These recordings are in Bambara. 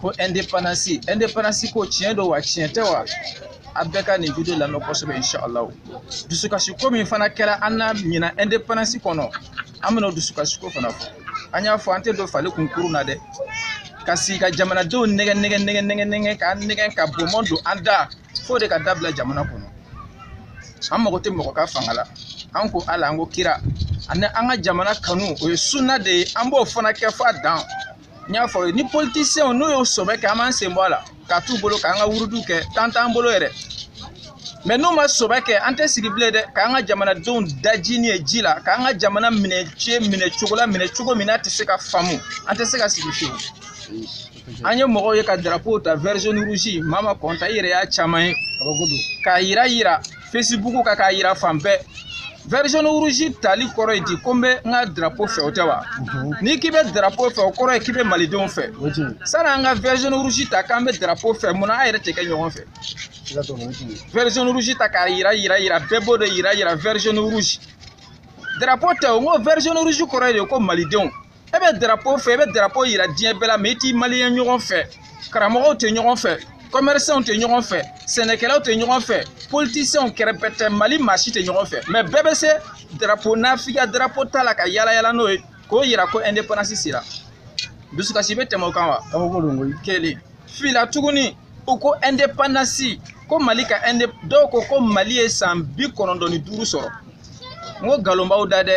ko ɛndepanansi ɛndepanansi ko tiɲɛ don wa tiɲɛ tɛ wa a bɛɛ ka nin video lamɛn kosɛbɛ inshallah dusukasi ko min fana kɛra an na ɲinan ɛndepanansi kɔnɔ an bɛna dusukasi ko fana fɔ an y'a fɔ an tɛ don fali kunkuru na dɛ ka sigi ka jamanadenw nɛgɛ nɛgɛ nɛgɛ nɛgɛ nɛgɛ ka nɛgɛ ka bɔnbɔn don an da fo de ka dabila jamana kɔnɔ an mago tɛ mɔgɔ ka fanga la an ko ala an ko kira ani an ka jamana kanu o ye sunna de ye an b'o fana kɛ f'a dan n y'a fɔ ni politisiyɛnw n'u y'o sɔbɛ kɛ an b'an sen bɔ a la k'a t'u bolo k'an ka wuruduw kɛ tan t'an bolo yɛrɛ mɛ n'u ma sɔbɛ kɛ an tɛ sigi bilen dɛ k'an ka jamanadenw dajini ye ji la k'an ka jamana minɛ ce minɛ cogo la minɛ cogo min n'a tɛ se ka faamu an tɛ se ka sigi fiyewu an ye mɔgɔw ye ka darapo ta vert jaune rouge maa ma kɔnta i yɛrɛ y'a caman ye k'a yira yira fesibuku kan k'a yira fan bɛɛ vert jaune rouge tali kɔrɔ ye di ko n bɛ n ka drapeau fɛ o tɛ wa n'i k'i bɛ drapeau fɛ o kɔrɔ ye k'i bɛ malidenw fɛ sani an ka vert jaune rouge ta k'an bɛ drapeau fɛ mun na an yɛrɛ tɛ kɛ ɲɔgɔn fɛ vert jaune rouge ta k'a yira yira yira bɛɛ b'o de yira yira vert jaune rouge drapeau tɛ o n ko vert jaune rouge kɔrɔ ye de ko malidenw e bɛ darapo fɛ e bɛ darapo yira diɲɛ bɛɛ la mɛ i t'i maliyɛn ɲɔgɔn fɛ karamɔgɔw tɛ ɲɔgɔn fɛ kɔmɛrisanw tɛ ɲɔgɔn fɛ sɛnɛkɛlaw tɛ ɲɔgɔn fɛ politisiyɛnw kɛrɛbɛtɛ mali maa si tɛ ɲɔgɔn fɛ mɛ bɛɛ bɛ se darapo nafigiya darapo ta la ka yalayala n'o ye k'o yira ko ɛndepandansi sera dusukasi bɛ tɛmɛ o kan wa kelen fila tuguni u ko ɛndepandansi ko mali ka ɛnde dɔw ko ko mali ye san bi kɔnɔntɔn ni duuru sɔrɔ n ko nkalon b'aw da dɛ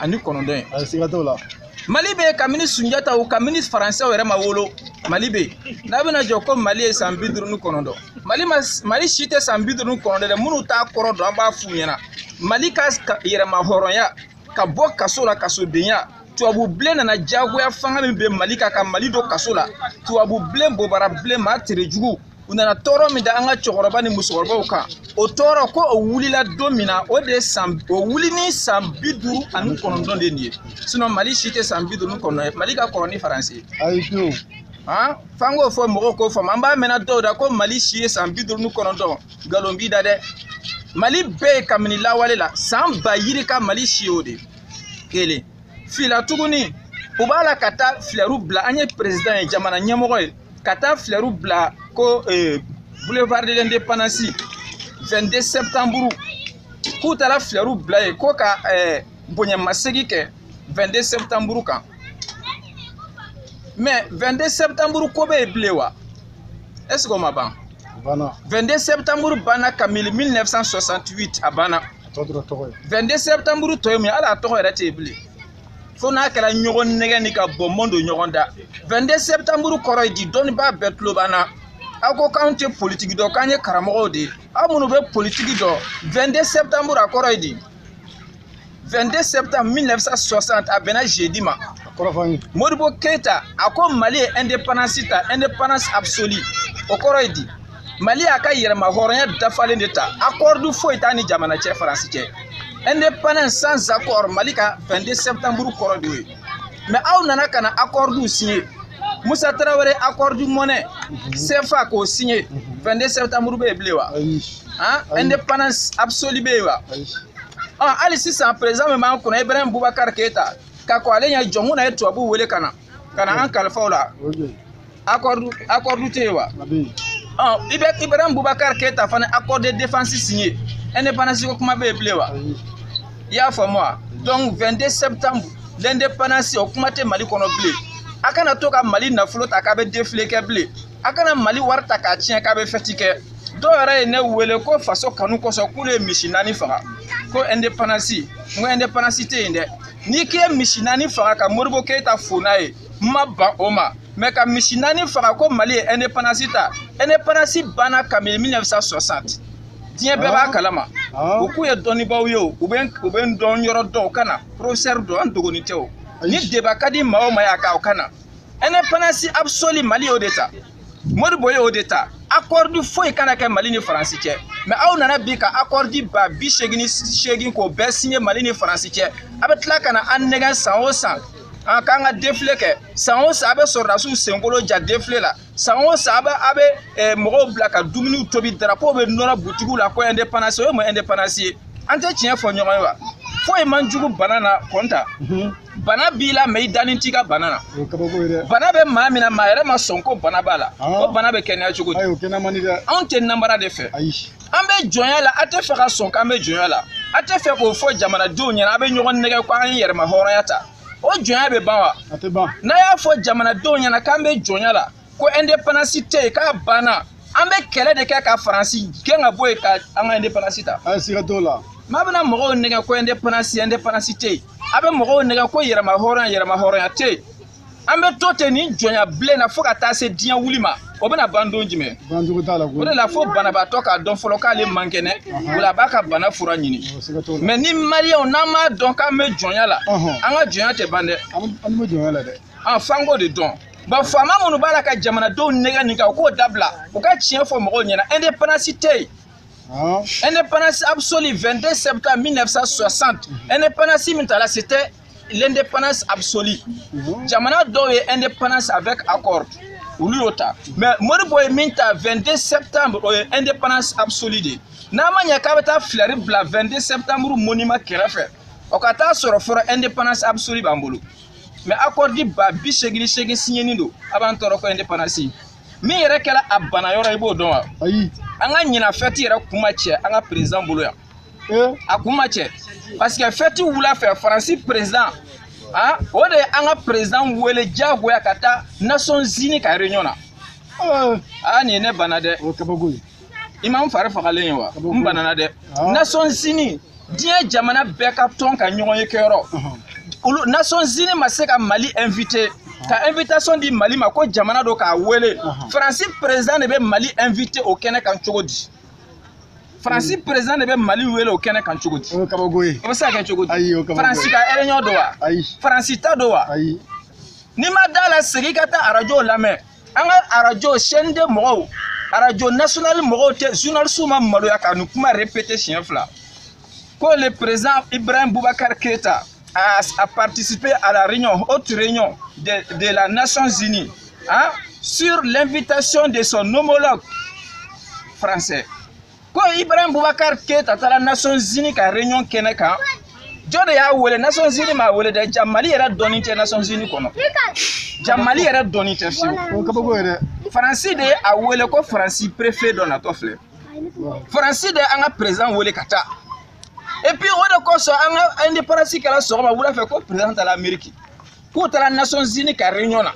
ani kɔnɔntɔn ye a siga t'o la mali bɛ kabini sunjataw kabini faransɛw yɛrɛ ma wolo mali bɛ n'a bɛna jɔ ko mali ye san bi duuru ni kɔnɔntɔn mali ma mali si tɛ san bi duuru ni kɔnɔntɔn dɛ minnu t'a kɔrɔ dɔn an b'a f'u ɲɛna mali ka yɛrɛmahɔrɔnya ka bɔ kaso la kasodenya tubabu bilen nana diyagoya fanga min bɛ mali kan ka mali don kaso la tubabu bilen bobara bilen maa tere jugu u nana tɔɔrɔ min da an ka cɛkɔrɔba ni musokɔrɔbaw kan o tɔɔrɔ ko o wulila don min na o de ye san o wuli ni san bi duuru ani kɔnɔntɔn de nin ye sinɔn mali si tɛ san bi duuru ni kɔnɔntɔn ye mali ka kɔrɔ ni faransi ye ayi fiyewu han f'an k'o fɔ mɔgɔw k'o faamu an b'a mɛn na dɔw da ko mali si ye san bi duuru ni kɔnɔntɔn nkalon b'i da dɛ mali bɛ yen kabini lawale la san ba yirika mali si y'o de ye kelen fila tuguni u b'a la ka taa filɛriw bila an ye perezidan ye jamana ɲɛmɔgɔ ye ka taa filɛriw bila ko eh, boulevard de l'indépendance 22 septembre k'u taara filɛriw bila yen ko ka eh, bonyamasegi kɛ 22 septembre kan mais 22 septembre ko bɛ yen bilen wa est ce que o ma ban 22 septembre banna kabini 1968 a banna tɔ dɔrɔn tɔgɔ ye 22 septembre tɔ ye mun ye hali a tɔgɔ yɛrɛ tɛ yen bilen fo n'a kɛra ɲɔgɔn nɛgɛ ni ka bɔnbɔn don ɲɔgɔn da 22 septembre kɔrɔ ye di dɔnnibaa bɛɛ tulo b'an na aw ko k'anw tɛ politiki dɔn k'an ye karamɔgɔw de ye aw minnu bɛ politiki dɔn 22 septembre a kɔrɔ ye di 22 septembre 1960 a bɛnna jeudi ma modibo keyita a ko mali ye indépendance ta indépendance absolue o kɔrɔ ye di mali y'a ka yɛrɛma hɔrɔnya dafalen de ta akɔrdu foyi t'a ni jamana cɛ faransi cɛ indépendance sans accord mali ka 22 septembre kɔrɔ de ye mɛ aw nana ka na akɔrdu signé musa tarawele akɔrdu mɔnɛ cfa k'o signé 22 septembre bɛ yen bilen wa indépendance absolue bɛ yen wa hali sisan président min b'an kunna ibrahim bubakar keyita ka kɔn ale ɲɛ jɔnkunda ye tubabuw wele ka na ka na an kalifa u la akɔridu akɔridu tɛ yen wa i bɛ ibrahim bubakar keyita fana accord de défense signé indépendance ko kuma bɛ yen bilen wa i y'a faamu wa donc 22 septembre l'indépendance o kuma tɛ mali kɔnɔ bilen a kana to ka mali nafolo ta k'a bɛ défilé kɛ bilen a kana mali wari ta k'a tiɲɛ k'a bɛ fɛti kɛ dɔw yɛrɛ ye ne wele ko faso kanu kosɔn k'olu ye misi naani faga ko indépendance n ko indépendance tɛ yen dɛ n'i k'i ye misi naani faga ka modibo keyita fo n'a ye n ma ban o ma mɛ ka misi naani faga ko mali ye ɛndepandansi ta ɛndepandansi banna kabini 1960 diɲɛ bɛɛ b'a kalama u k'u ye dɔnnibaaw ye o u bɛ u bɛ n dɔn yɔrɔ dɔn u ka na porofesɛri don an dogoni tɛ o ni deba ka di maa o maa ye a ka o ka na ɛndepandansi absoli mali y'o de ta modibo ye o de ta akɔridi foyi kana kɛ mali ni faransi cɛ mɛ aw nana bi ka akɔridi ba bi seegin ni seegin k'o bɛɛ siɲɛ mali ni faransi cɛ a bɛ tila ka na an nɛgɛn san o san an k'an ka defile kɛ san o san a bɛ sɔrɔdasiw senkolo ja defile la san o san a bɛ a bɛ eh, mɔgɔw bila ka dumuniw tobi darapo bɛ nɔrɔ butigiw la ko ɛndepandansi o ye mun ɛndepandansi ye an tɛ tiɲɛ fɔ ɲɔgɔn ye wa foyi man jugu bana na kɔnta bana b'i la mɛ i dani t'i ka bana na bana bɛ maa min na maa yɛrɛ ma sɔn ko bana b'a la ah. o bana bɛ kɛnɛya cogo di anw tɛ namara de fɛ an bɛ jɔnya la a tɛ fɛ ka sɔn k'an bɛ jɔnya la a tɛ fɛ k'o fɔ jamanadenw ɲɛna a bɛ ɲɔgɔn nɛgɛ ko an ye yɛrɛma hɔrɔnya ta o jɔnya bɛ ban wa n'a y'a fɔ jamanadenw ɲɛna k'an bɛ jɔnya la ko indépendance tɛ yen k'a banna an bɛ kɛlɛ de kɛ ka faransi gɛn ka bɔ yen ka an ka indépendance ta. an siga t'o la. mɛ a bɛna mɔgɔw nɛgɛ ko indépendance indépendance tɛ yen a bɛ mɔgɔw nɛgɛ ko yɛrɛma hɔrɔnya yɛrɛma hɔrɔnya tɛ yen an bɛ to ten nin jɔnya bilen na fo ka taa se diɲɛ wuli ma o bɛna ban don jumɛn ban cogo t'a la o de la fo banabaatɔ k'a dɔn fɔlɔ k'ale man kɛnɛ o la a b'a ka bana fura ɲini mɛ ni maliyɛnw n'an m'a dɔn k'an bɛ jɔnya la an ka jɔnya tɛ ban dɛ an bɛ jɔnya la dɛ an f'an k'o de dɔn bon faama minnu b'a la ka jamanadenw nɛgɛ nin kan u k'o dabila u ka tiɲɛ fɔ mɔgɔw ɲɛna indépendance tɛ yen Hein? Indépendance absolue 22 septembre 1960. Indépendance min tala c'était l'indépendance absolue. Mhm. Jamana dɔw ye indépendance avec accord. olu y'o ta mais Modibo ye min ta 22 septembre o ye indépendance absolue de ye n'a ma ɲɛ k'a bɛ taa filɛri bila 22 septembre monument kɛrɛfɛ o ka taa sɔrɔ fɔlɔ indépendance absolue b'an bolo mais accord ba bi segin ni segin siɲɛnen don a b'an tɔɔrɔ ko indépendance min yɛrɛ kɛra a bana yɔrɔ i b'o dɔn wa ayi an ka ɲina fɛti yɛrɛ kun ma cɛ an ka président bolo yan eh? a kun ma cɛ parce que fɛti wula fɛ faransi président ah, o de ye an ka président wele diyagoya ka taa nations unies ka réunion na aa eh. ah, nin ye ne bana dɛ o kabako ye i ma n fari fagalen ye wa n banana dɛ ah. nations unies diɲɛ jamana bɛɛ ka tɔn ka ɲɔgɔnye kɛyɔrɔ olu nations unies ma se ka mali invité ka invitation di mali ma ko jamana don k'a wele faransi président de bɛ mali invité o kɛnɛ kan cogo di faransi président de bɛ mali wele o kɛnɛ kan cogo di o bɛ se ka kɛ cogo di faransi ka réunion don wa faransi ta don wa n'i ma da a la segin ka taa arajo lamɛn an ka arajo chaîne deux mɔgɔw arajo national mɔgɔw tɛ journaliste ma maloya ka nin kuma répété siɲɛ fila ko le président ibrahim boubacar keita a, a participé à la réunion haute réunion de, de la nations unies hein, sur l'invitation de son homologue français ko ibrahim bubakar keyita taara nations unies ka réunion kɛnɛ kan jɔn de y'a wele nations unies m'a wele dɛ jaa mali yɛrɛ dɔnnen tɛ nations unies kɔnɔ jaa mali yɛrɛ dɔnnen tɛ fewu faransi de ye a wele ko faransi préfet dɔ natɔ filɛ faransi de an ka président wele ka taa et puis o de kosɔn an ka indépendance kɛra sɔgɔma wula fɛ ko président taara ameriki k'u taara nations unies ka réunion na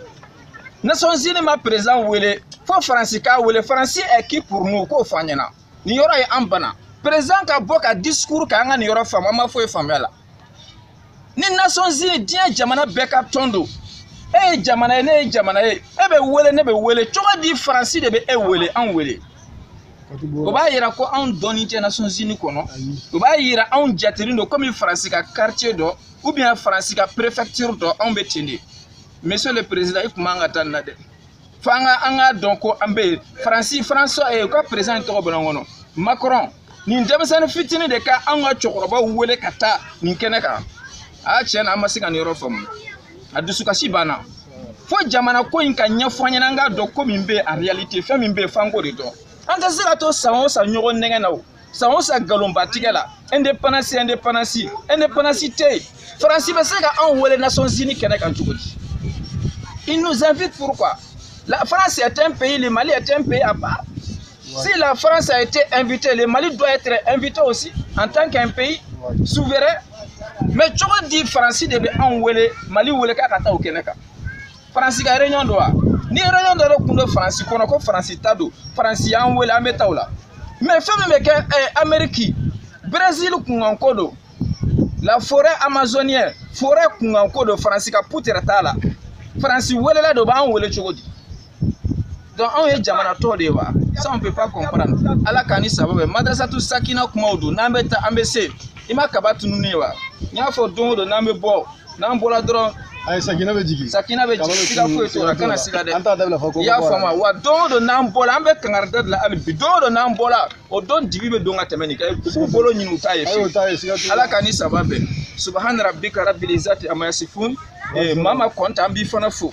nations unies ma président wele fo faransi k'a wele faransi est qui pour nous k'o fɔ an ɲɛna nin yɔrɔ ye an bana président ka bɔ ka discours kɛ an ka nin yɔrɔ faamu an ma foyi faamu a la ni nations unies diɲɛ jamana bɛɛ ka tɔn don e ye jamana ye ne ye jamana ye e bɛ wele ne bɛ wele cogo di faransi de bɛ e wele an wele o b'a yira ko anw dɔnnen tɛ nations unies kɔnɔ o b'a yira anw jatelen don komi faransi ka quartier dɔ ou bien faransi ka préfecture dɔ anw bɛ ten de monsieur le président i tun man ka taa nin na dɛ fo an ka an k'a dɔn ko an bɛ yen faransi faransi u ka président tɔgɔ bɛna bɔ n kɔnɔ macron nin denmisɛnnin fitinin de ka anw ka cɛkɔrɔbaw wele ka taa nin kɛnɛ kan a tiɲɛ na an ma se ka nin yɔrɔ faamu a dusukasi banna fo jamana ko in ka ɲɛfɔ an ɲɛna an k'a dɔn ko min bɛ yen en réalité fɛn min bɛ yen f'an k'o de dɔn an tɛ se ka to san o san ɲɔgɔn nɛgɛn na o san o san nkalonba tigɛ la indépendance indépendance indépendance tɛ yen faransi bɛ se ka anw wele nations unies kɛnɛ kan cogo di il nous invite pourquoi la france est un pays le mali est un pays à part si la france a été invitée le mali doit être invité aussi en tant qu'un pays souverain mais cogo di faransi de bɛ anw wele mali wele k'a ka taa o kɛnɛ kan faransi ka réunion don wa ni réunion dɔ de kun don faransi kɔnɔ ko faransi ta don faransi y'an wele an bɛ taa o la mais fɛn min bɛ kɛ ɛɛ eh, ameriki brésil kunkanko don la forêt amazonienne forêt kunkanko don faransi ka putɛrɛ t'a la faransi welela de o b'an wele cogo di donc anw ye jamanatɔ de ye wa ça on peut pas comprendre ala k'an ni saba bɛn madrasatu sakina kumaw don n'an bɛ taa an bɛ se i ma kaba tununi ye wa n y'a fɔ don o don n'an bɛ bɔ n'an bɔra dɔrɔn ayi sakina bɛ jigin sakina bɛ jigin siga foyi t'o la kana siga dɛ an t'a dabila fɔ ko i y'a faamu wa don o don n'an bɔra an bɛ kankarida de la hali bi don o don n'an bɔra o don dibi bɛ don ka tɛmɛ nin kan k'u bolo ɲini u t'a ye fiyewu ala k'an ni saba bɛn subahana rabbika rabbil izzati amma yasifun eh, mama kɔnta an b'i fana fo